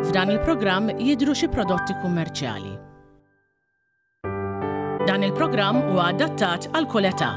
F'dan il-programm jidhru xi prodotti kummerċjali. Dan il-programm huwa adattat għal kull età.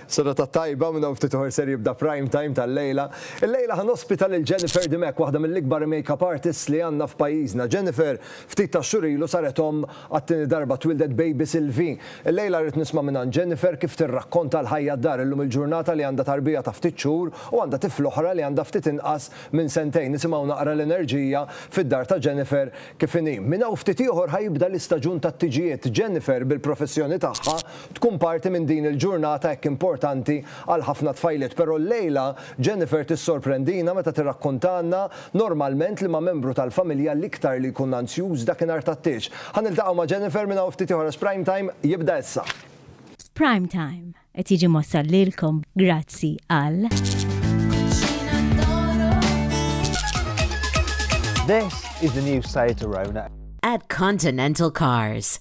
Sena ta' tajba minn ftit uħor ser jibda prime time tal-lejla. Il-lejla ħan ospita lil Jennifer Dimek, waħda mill-ikbar makeup artists li għandna f'pajjiżna. Jennifer, ftit ta' xurilu saret om Għat-tieni darba twieldet baby Sylvie. Illejla rrid nisma' mingħand Jennifer kif tirrakkonta l-ħajja d-dar illum il-ġurnata li għandha tarbija ta' ftit xhur u għandha tifl oħra li għandha ftit inqas minn sentejn. Nisimgħu naqra l-enerġija fid-dar ta' Jennifer kif inhi. Minn hawn ftit ieħor ħa jibda l-istaġun tat-tiġijiet. Jennifer bil-professjoni tagħha tkun parti minn din il-ġurnata hekk importanti għal ħafna tfajliet. Però llejla Jennifer tissorprendina meta tirrakkontalna Normalment liema membru tal-familja l-iktar li jkun anzjuż dakinhar tat-tieġ? Ħa niltaqgħu ma' Jennifer minn hawn ftit ieħor għax Prime Time jibda issa. Prime Time qed jiġi mwassal lilkom grazzi għal. This is the new Seat Arona. At Continental Cars.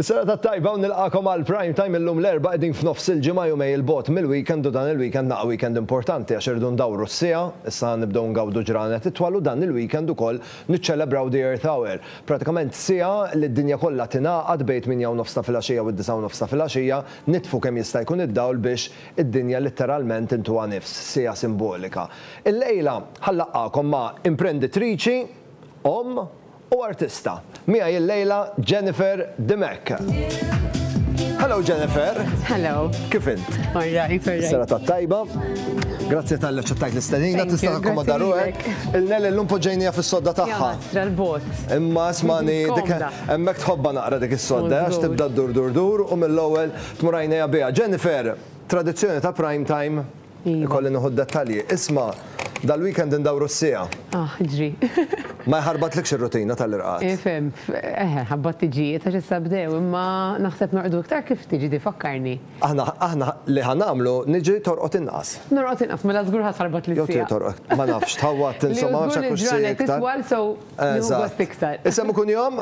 Is-serata t-tajba u nilqagħkom għal Prime Time illum l-Erbgħa qegħdin f'nofs il-ġimgħa jumej il bogħod mill-weekend u dan il-weekend naqa' weekend importanti għax irridu ndawru s-siegħa, issa ħa nibdew ngawdu ġranet itwal u dan il-weekend ukoll niċċelebraw the Earth Hour. Pratikament siegħa li d-dinja kollha tingħaqad bejn it-tmienja u nofs ta' filgħaxija u d-disgħa u nofs ta' filgħaxija nitfu kemm jista' jkun id-dawl biex id-dinja litteralment intuha nifs, siegħa simbolika. Illejla ħa nlaqqagħkom ma' imprenditriċi, omm, U artista. Miegħi illejla Jennifer Dimech. Hello Jennifer. Hello. Kif int? All right, all right. Serata tajba. Grazzi tal ċettajt l-istenina, tista' takkomoda ruħek. Il-nel illum poġġejnija fis-sodda tagħha. L-bot. Imma smani dik hemmhekk tħobba naqra dik is-sodda għax tibda dur dur dur u mill-ewwel tmur għajnejha biha. Jennifer, tradizzjoni ta' prime time Ikolli nieħu d-dettalji. Isma', dal-weekend indawru s-siegħa. Aħ, ġri. Ma jħarbatlikx ir-rutina tal-irqad? Ifhem, eħe, ħabbat-tiġijiet għax issa bdew, imma naħseb norqdu iktar kif tiġi di, fakkarni. Aħna, aħna li ħa nagħmlu, niġri torqod inqas. Norqod inqas, mela żgur ħa tħarbat lis-siegħa. Jew trid torqod, ma nafx, tħawwadt insomma, ma nafx hekk hux siegħa iktar. Jew żgur li l-ġranet titwal, so Eżatt. Isem u kunjom?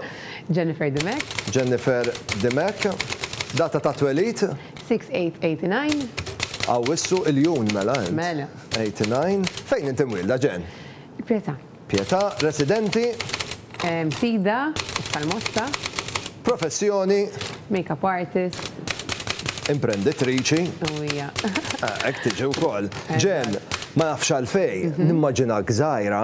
Jennifer Dimech. Jennifer Dimech. Data ta' twelid? 6/8/89. Awwissu, Iljun mela int. Mela. 89. Fejn inti mwielda, Jen? Pietà. Pietà. Residenti? Msida, Iktar Mosta. Professjoni? Makeup artist. Imprenditriċi. U hija. Hekk tiġi wkoll. Jen, ma nafx għalfejn, nimmaġinak żgħira.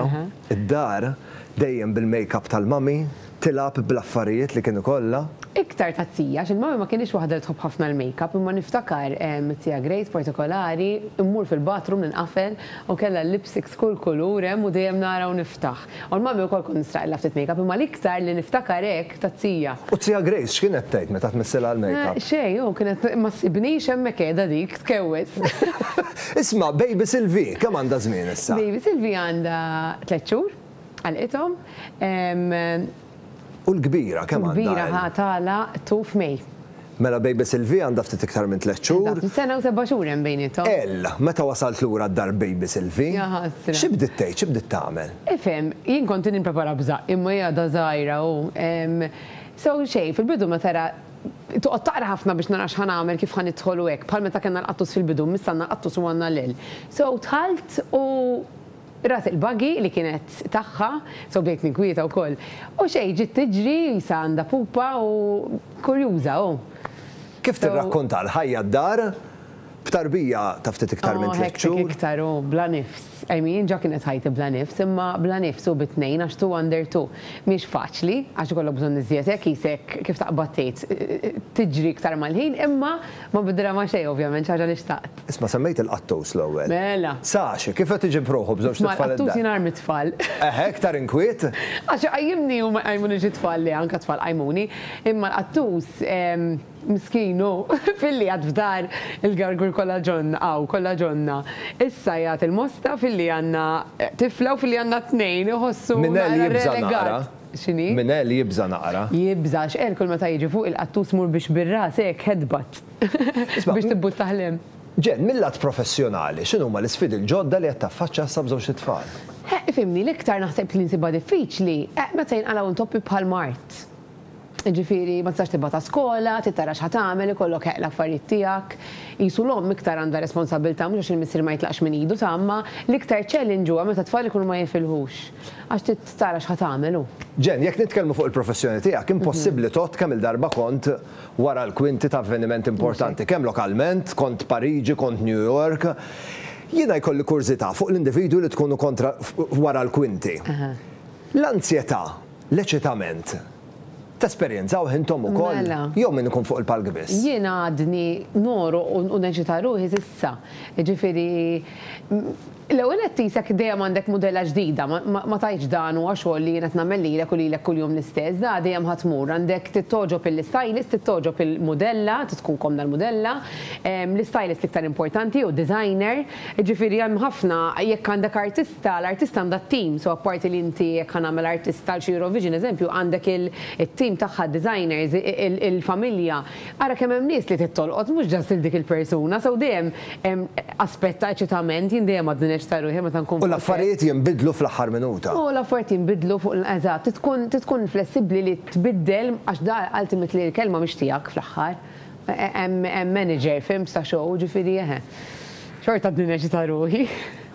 Id-dar, dejjem bil-makeup tal-mummy, tilgħab bl-affarijiet li kien ikollha. Iktar tat-tija, għax il-mummy ma kinitx waħda li tħobb ħafna l-makeup, imma niftakar it-tija Grace partikolari, immur fil-bathroom ninqafel u kellha l-lipsticks kull kulur hemm u dejjem nara u niftaħ. U l-mummy wkoll kont nisraqilha ftit makeup, imma l-iktar li niftakar hekk, Tazzija. U t-Tija Grace x'kienet tgħid meta tmissilha l-makeup? Xejn, hu kienet ma ssibnix hemmhekk qiegħda dik tkewwes. Isma', baby Sylvie kemm għandha żmien issa? Baby Sylvie għandha tliet xhur, għalqithom. U l-kbira kemm għandha? U l-kbira ħa tagħlaq tu f'May. Mela baby Sylvie għandha ftit iktar minn tliet xhur. Eżatt, sena u seba' xhur hemm bejniethom. Ell, meta wasalt lura d-dar baby Sylvie. Jaħasra. Xi bdiet tgħid, xi bdiet tagħmel? Ifhem, jien kont qed nipprepara b'żaqq, imma hi għadha żgħira u, ehm, so xejn, fil-bidu meta ra, toqgħod taqra ħafna biex nara x'ħa nagħmel, kif ħa nidħol u hekk, bħal meta kellna l-qattus fil-bidu, missa għandna l-qattus u għandna l-ell. So dħalt u. Rat il-buggy li kienet tagħha, so bdejt ninkwieta wkoll. U xejn, ġiet tiġri, qisha għandha pupa u kurjuża hu. Kif tirrakkonta l-ħajja d-dar, b'tarbija ta' ftit iktar minn tliet xhur. Oh, hekk iktar hu bla nifs. I mean, ġa kienet ħajti bla nifs, imma bla nifs hu bi tnejn għax two under two. Mhiex faċli, għax ikollok bżonn iżjed hekk qisek, kif taqbad tgħid, tiġri iktar mal-ħin, imma Ma bidra ma' xejn ovvjament, xi ħaġa li xtaqt. Isma' semmejt il-qattus l-ewwel. Mela. Sax, kif qed iġib ruħu b'żewġt tfal id-dar? Isma' l-qattus jingħar mit-tfal. Eħe, iktar inkwiet. Għax iqajjimni u ma jqajmunix it-tfal le, anke t-tfal qajmuni. Imma l-qattus, miskin hu, filli għad f'dar il-gargur kollha ġonna, hawn, kollha ġonna. Issa jagħti l-mosta filli għandna tifla u filli għandna t-tnejn, iħossu naqra relegat. Minn hell jibża' naqra. X'inhi? Min għel jibża' naqra. Jibża', x'għel kull meta jiġi fuq il-qattus mur biex bir-ras hekk hedbat biex tibbuttaħ 'l hemm. Jen, mil-lat professjonali, x'inhuma l-isfidi l-ġodda li qed taffaċċja issa b'żewġt itfal? Eħ, ifhimni, l-iktar naħseb li nsibha diffiċli, eħ, meta jinqalgħu intoppi bħal mard. Jiġifieri, ma tistax tibgħatha skola, trid tara x'ħa tagħmel, ikollok eħ l-affarijiet tiegħek. Qisu l-omm iktar għandha responsabbiltà mhux għax il-missier ma jitlaqx minn idu ta' ommha, l-iktar challenge huwa meta t-tfal ikunu ma jifilħux. Għax trid tara x'ħa tagħmel u. Jen, jekk nitkellmu fuq il-professjoni tiegħek, impossibbli tgħodd kemm-il darba kont wara l-kwinti ta' avveniment importanti, kemm lokalment, kont Pariġi, kont New York. Jiena jkolli kurżità fuq l-individwi li tkunu kontra wara l-kwinti. L-anzjetà, l-eċitament, Tesperjenzaw hintom ukoll? Mela. Jew min ikun fuq il-palk biss? Jien għadni nogħroq u u neċita ruħi s'issa. Jiġifieri l-ewwel nett qisek dejjem għandek mudella ġdida, ma ma ma tgħidx dan huwa xogħol li jien qed nagħmel lilek u lilek kuljum l-istess, da dejjem ħa tmur. Għandek tittogħġob il-istylist, tittogħġob il-mudella, trid tkun komda l-mudella, l-istylist l-iktar importanti jew designer. Jiġifieri hemm ħafna, jekk għandek artist, ta' l-artist għandha t-tim, so apparti li inti jekk ħa nagħmel artist għal xi Eurovision eżempju għandek it-tim tagħha, d-designers, il-familja. Ara kemm hemm nies li trid tolqot mhux just lil dik il-persuna, so dejjem hemm aspett ta' eċitament, jien dejjem għadni neċċita ruħi meta nkun fuq is-sett. U l-affarijiet jinbidlu fl-aħħar minuta. U l-affarijiet jinbidlu fuq l-, eżatt, trid tkun trid tkun flessibbli li tbiddel għax da ultimately l-kelma mhix tiegħek fl-aħħar. Hemm manager, fhimt, ta' show, jiġifieri eħe. Xorta għadni neċċita ruħi.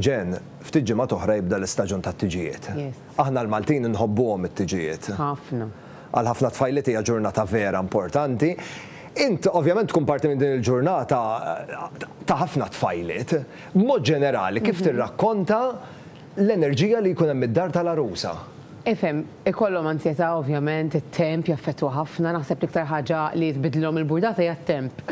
Jen, ftit ġimgħat oħra jibda l-istaġun tat-tiġijiet. Aħna l-Maltin inħobbuhom it-tiġijiet. Ħafna. Għal ħafna tfajliet hija ġurnata vera importanti. Int ovvjament tkun parti minn din il-ġurnata ta' ħafna tfajliet. B'mod ġenerali kif tirrakkonta l-enerġija li jkun hemm id-dar tal-għarusa? Ifhem, ikollhom anzjetà ovvjament, it-temp jaffettwa ħafna, naħseb l-iktar ħaġa li tbiddlilhom il-burdata hija t-temp.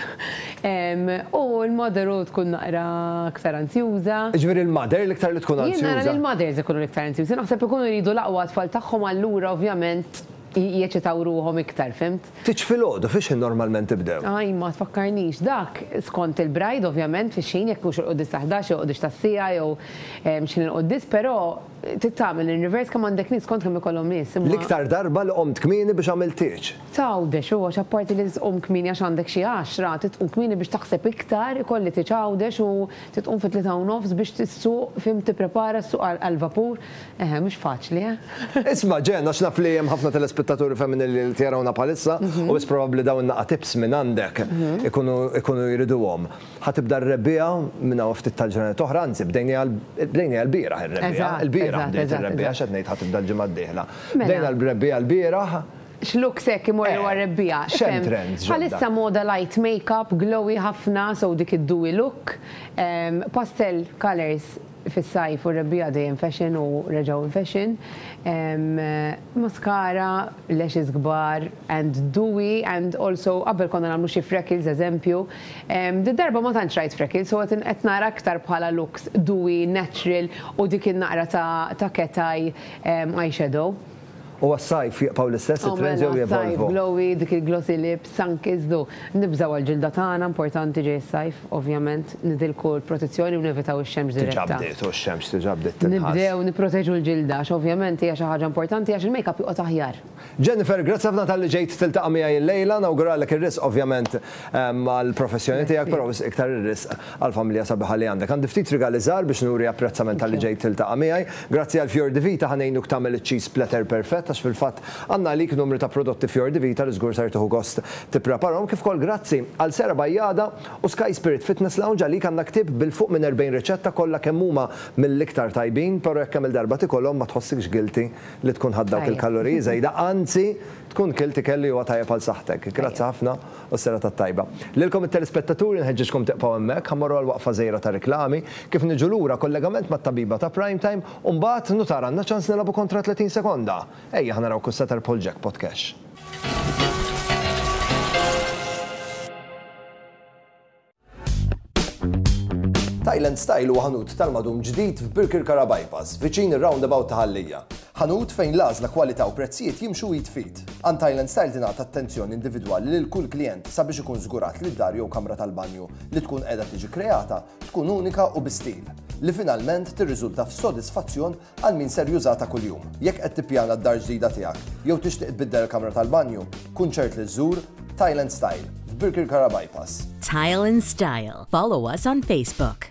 U l-mother u tkun naqra iktar anzjuża. Jiġifieri l-mother l-iktar li tkun anzjuża? Jien nara li l-mothers ikunu l-iktar anzjużi, naħseb ikunu jridu l-aqwa għat-tfal tagħhom allura ovvjament jeċitaw ruħhom iktar, fhimt? Titx filgħodu, fix-xħin normalment tibdew? Ajj, ma tfakkarnix. Dak skont il-bride ovvjament, fix-xħin, jekk mhux il-quddies tal-ħdax jew il-quddies tas-siegħa jew x'ħin il-quddies, però Trid tagħmel in-reverse kemm għandek nies kont kemm ikollhom nies imma. L-iktar darba li qomt kmieni biex għamilt tieġ. T'Għawdex u għax apparti li trid tqum kmieni għax għandek xi għaxra, trid tqum kmieni biex taħseb iktar, ikolli tieġ Għawdex u trid tqum fit-tlieta u nofs biex issuq, fim, tipprepara, ssuq għall-vapur. Eħe, mhux faċli, eh? Isma', Jen, għax naf li hemm ħafna telespettaturi femminili li qed jarawna bħalissa u biss probabbli dawn in-naqatips mingħandek ikunu jriduhom. Ħa tibda r-rebbiegħa minn hawn ftit tal-ġranet oħra, anzi bdejniha bdejniha l-bieraħ ir-rebbiegħa. Il-bieraħ bdejt ir-rebbiegħa x'qed ngħid ħa tibda l-ġimgħa d-dieħla. Bdejna l-rebbiegħa l-bieraħ. X'looks hekk imorru għar-rebbiegħa? X'hemm trends ġodda? Bħalissa moda light makeup, glowy ħafna, so dik id-dewy look. Pastel colours fis-sajf u r-rebbiegħa dejjem fashion u reġgħu in fashion. Mascara, lashes kbar and dewy and also qabel konna nagħmlu xi freckles eżempju. Did-darba ma tantx rajt freckles so qed qed nara aktar bħala looks dewy, natural u dik in-naqra ta' ta' cat eye eye shadow. U għas-sajf jibqgħu l-istess it-trends jew jevolvu? Għas-sajf glowy, dik il-glossy lips. Sankiżdu, nibżgħu għall-ġilda tagħna, importanti ġej is-sajf, ovvjament, nidilku l-protezzjoni u nevitaw ix-xemx diretta. Diġà bdiet, u x-xemx diġà bdiet tinħass. Nibdew nipproteġu l-ġilda għax ovvjament hija xi ħaġa importanti għax il-makeup joqgħod aħjar. Jennifer, grazzi ħafna talli ġejt tiltaqa' miegħi llejla, nawguralek ir-risq ovvjament għall-professjoni tiegħek, però wisq iktar ir-risq. Għall-familja sabiħa li għandek. Għandi ftit rigali żgħar biex nuri apprezzament talli ġejt tiltaqa' miegħi. Grazzi għal Fior di Vita ħa ngħinuk tagħmel iċ-cheese splatter perfett għax fil-fatt għandna għalik numru ta' prodotti Fior di Vita li żgur ser tieħu gost tippreparahom. Kif ukoll grazzi għal sehra bajjada u Sky Spirit Fitness Lounge għalik għandna ktieb bil-fuq minn 40 riċetta kollha kemm huma mill-iktar tajbin però jekk kemm-il darba tikolhom ma tħossikx guilty li tkun ħadt dawk il-kaloriji żejda anzi tkun kilt ikel li huwa tajjeb għal saħħtek. Grazzi ħafna. U s-serata t-tajba. Lilkom it-telispettaturi nħeġġiġkom tibqgħu hemmhekk, ħa mmorru għal waqfa żgħira ta' riklami, kif niġu lura kollegament mat-tabiba ta' Prime Time u mbagħad nutar għandna ċans nilgħabu kontra 30 sekonda! Ejja ħa naraw ku se terbħu l-jackpot cash. Thailand Style huwa ħanut tal-madum ġdid f'Birkirkara Bypass, viċin ir-roundabout ta' Ħallija. Ħanut fejn l-għażla, kwalità u prezzijiet jimxu id f'id. Għand Thailand Style tingħata attenzjoni individwali lil kull klijent sabiex ikun żgurat li d-dar jew kamra tal-banju li tkun qiegħda tiġi kreata tkun unika u bi stil, li finalment tirriżulta f'sodisfazzjon Għal min ser jużha ta' kuljum. Jekk qed tippjana d-dar ġdida tiegħek jew tixtieq tbiddel il-kamra tal-banju, kun ċert li żżur Tile and Style f'Birkirkara Bypass. Tile and Style. Follow us on Facebook.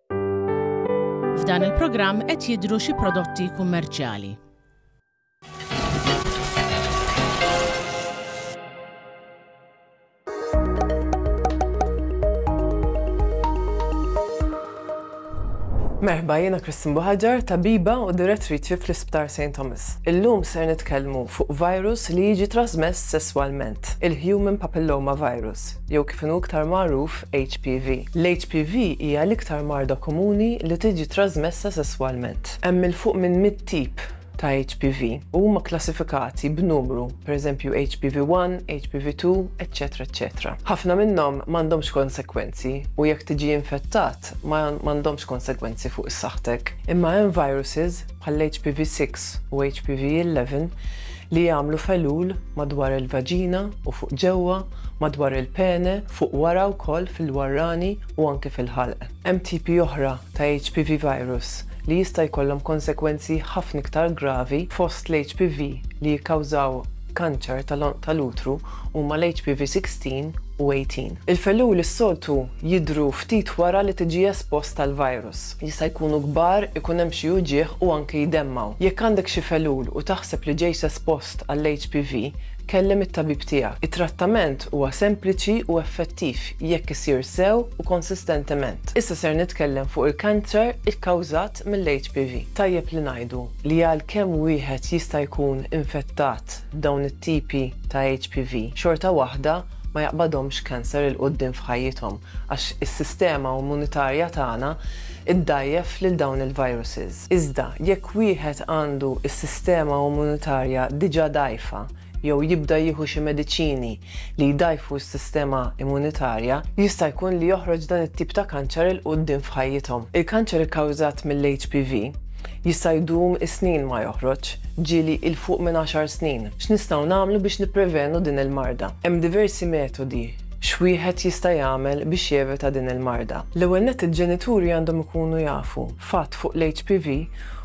F'dan il-programm qed jidhru xi prodotti kummerċjali. Merħba jiena Kristin Buħaġar, tabiba u direttriċi fl-Isptar St. Thomas. Illum ser nitkellmu fuq virus li jiġi trasmess sesswalment, il-Human Papilloma Virus. jew kif inhu iktar magħruf HPV. L-HPV hija l-iktar marda komuni li tiġi trażmessa sesswalment. Hemm 'il fuq minn mitt tip ta' HPV u huma kklassifikati b'numru, pereżempju HPV 1, HPV 2, eċċetera eċċetera. Ħafna minnhom m'għandhomx konsegwenzi u jekk tiġi infettat ma m'għandhomx konsegwenzi fuq is-saħħtek. Imma hemm viruses bħall-HPV 6 u HPV 11 li jagħmlu felul madwar il-vaġina u fuq ġewwa madwar il-pene, fuq wara wkoll fil-warrani u anke fil-ħalq. Hemm tipi oħra ta' HPV virus li jista' jkollhom konsegwenzi ħafna iktar gravi fost l-HPV li jikkawżaw kanċer tal-għonq tal-utru huma l-HPV 16 u 18. Il-felluli s-soltu jidhru ftit wara li tiġi espost għall-virus. Jista' jkunu kbar, ikun hemm xi uġigħ u anke jdemmgħu. Jekk għandek xi felul u taħseb li ġejt espost għall-HPV, Kellem it-tabib tiegħek. It-trattament huwa sempliċi u effettiv jekk isir sew u konsistentement. Issa ser nitkellem fuq il-kanċer ikkawżat mill-HPV. Tajjeb li ngħidu li għalkemm wieħed jista' jkun infettat b'dawn it-tipi ta' HPV, xorta waħda ma jaqbadhomx cancer 'il quddiem f'ħajjithom għax is-sistema immunitarja tagħna iddgħajjef lil dawn il-viruses. Iżda, jekk wieħed għandu s-sistema immunitarja diġà dgħajfa jew jibda jieħu xi mediċini li jdgħajfu s-sistema immunitarja, jista' jkun li joħroġ dan it-tip ta' kanċer 'il quddiem f'ħajjithom. Il-kanċer ikkawżat mill-HPV jista' jdum is-snin ma joħroġ, ġieli 'il fuq minn għaxar snin. X'nistgħu nagħmlu biex nipprevenu din il-marda? Hemm diversi metodi X'wieħed jista' jagħmel biex jevita din il-marda? L-ewwel nett il-ġenituri għandhom ikunu jafu fatt fuq l-HPV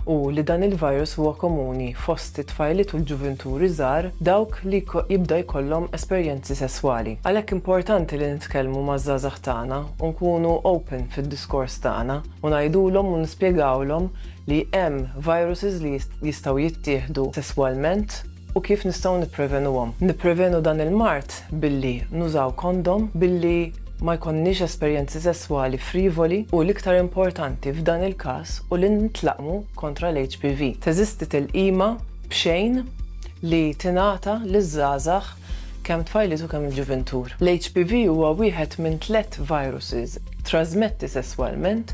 u li dan il-virus huwa komuni fost it-tfajliet u l-ġuvinturi żgħar dawk li jibda jkollhom esperjenzi sesswali. Għalhekk importanti li nitkellmu maż-żgħażagħ tagħna u nkunu open fid-diskors tagħna u ngħidulhom u nispjegawlhom li hemm viruses li jistgħu jittieħdu sesswalment, u kif nistgħu nipprevenuhom. Nipprevenu dan il-mard billi nużaw kondom, billi ma jkollniex esperjenzi sesswali frivoli u l-iktar importanti f'dan il-każ hu li nitlaqmu kontra l-HPV. Teżisti tilqima b'xejn li tingħata liż-żgħażagħ kemm tfajliet u kemm il-ġuvintur. L-HPV huwa wieħed minn tliet viruses trażmetti sesswalment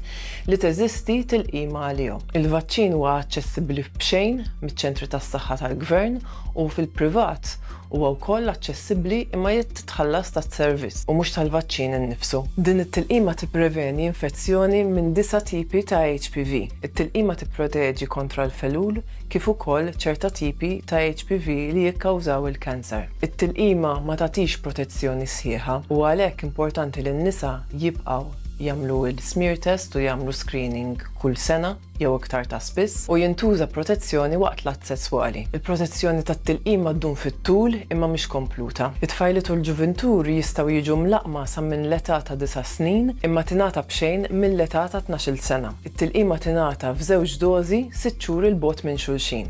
li teżisti tilqima għalihom. Il-vaċċin huwa aċċessibbli b'xejn miċ-ċentri tas-saħħa tal-gvern u fil-privat huwa wkoll aċċessibbli imma jrid titħallas tas-servizz u mhux tal-vaċċin innifsu. Din it-tilqima tippreveni infezzjoni minn disa' tipi ta' HPV. It-tilqima tipproteġi kontra l-felul, kif ukoll ċerta tipi ta' HPV li jikkawżaw il-kanser. It-tilqima ma tagħtix protezzjoni sħiħa u għalhekk importanti li n-nisa jibqgħu jagħmlu l-smear test u jagħmlu screening kull sena jew iktar ta' spiss u jintuża protezzjoni waqt l-att sesswali. Il-protezzjoni tat-tilqima ddum fit-tul imma mhix kompluta. It-tfajliet u l-ġuvintur jistgħu jiġu mlaqqma sa minn l-età ta' disa' snin imma tingħata b'xejn mill-età ta' tnax-il sena. Tilqima tingħata f'żewġ dożi sitt xhur 'il bogħod minn xulxin.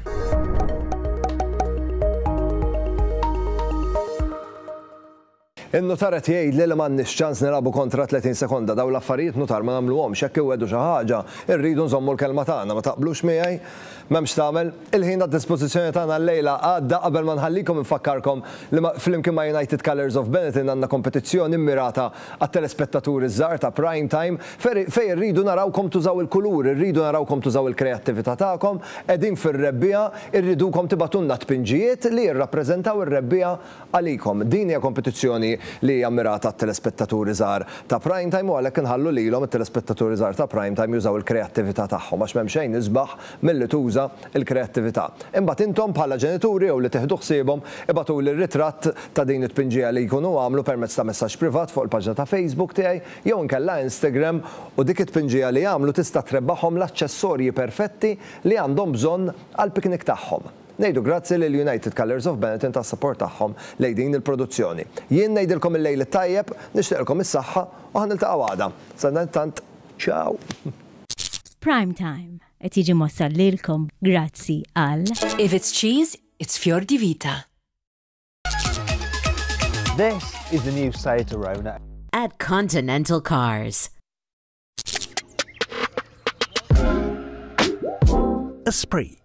In-nutar qed jgħidli li m'għandniex ċans nilagħbu kontra 30 sekonda, dawn l-affarijiet nutar ma nagħmluhomx, jekk iwegħdu xi ħaġa, irridu nżommu l-kelma tagħna, ma taqblux miegħi? M'hemm x'tagħmel. Il-ħin għad-dispożizzjoni tagħna llejla għadda qabel ma nħallikom infakkarkom li flimkien ma' United Colours of Benetton għandna kompetizzjoni mmirata Għat-telespettaturi ż-żgħar ta' Prime Time, fejn irridu narawkom tużaw il-kulur, irridu narawkom tużaw il-kreattività tagħkom, qegħdin fir-rebbiegħa, irridukom tibagħtulna tpinġijiet li jirrappreżentaw ir-rebbiegħa għalikom. Din hija kompetizzjoni li hija mmirata għat-telespettaturi żgħar ta' Prime Time u għalhekk inħallu lilhom, it-telespettaturi żgħar ta' Prime Time, jużaw il-kreattività tagħhom għax m'hemm xejn isbaħ milli tuża l-kreattività. Imbagħad intom bħala ġenituri jew li tieħdu ħsiebhom ibagħtuli r-ritratt ta' din it-tpinġija li jkunu għamlu permezz ta' messaġġ privat fuq il-paġna ta' Facebook tiegħi jew inkella Instagram u dik it-tpinġija li għamlu tista' trebbaħhom l-aċċessorji perfetti li għandhom bżonn għall-piknik tagħhom. Ngħidu grazzi lil United Colours of Benetton tas-support tagħhom lejn din il-produzzjoni. Jien ngħidilkom il-lejl it-tajjeb, nixtieqilkom is-saħħa u ħa niltaqgħu għada. Sadanittant, ciao! Prime Time qed jiġi mwassal lilkom grazzi għal. If it's cheese, it's fior di vita. This is the new Seat Arona. At Continental Cars. Esprit.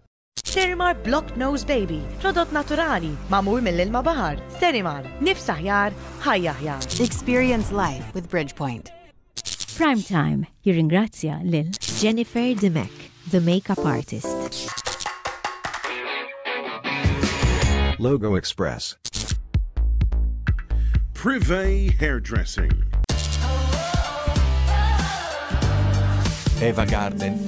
Sterimar Block Nose Baby, prodott naturali, magħmul mill-ilma baħar. Sterimar, nifs aħjar, ħajja aħjar. Experience life with Bridgepoint. Prime Time jirringrazzja lil Jennifer Dimech, the makeup artist. Logo Express. Privé Hairdressing. Eva Garden.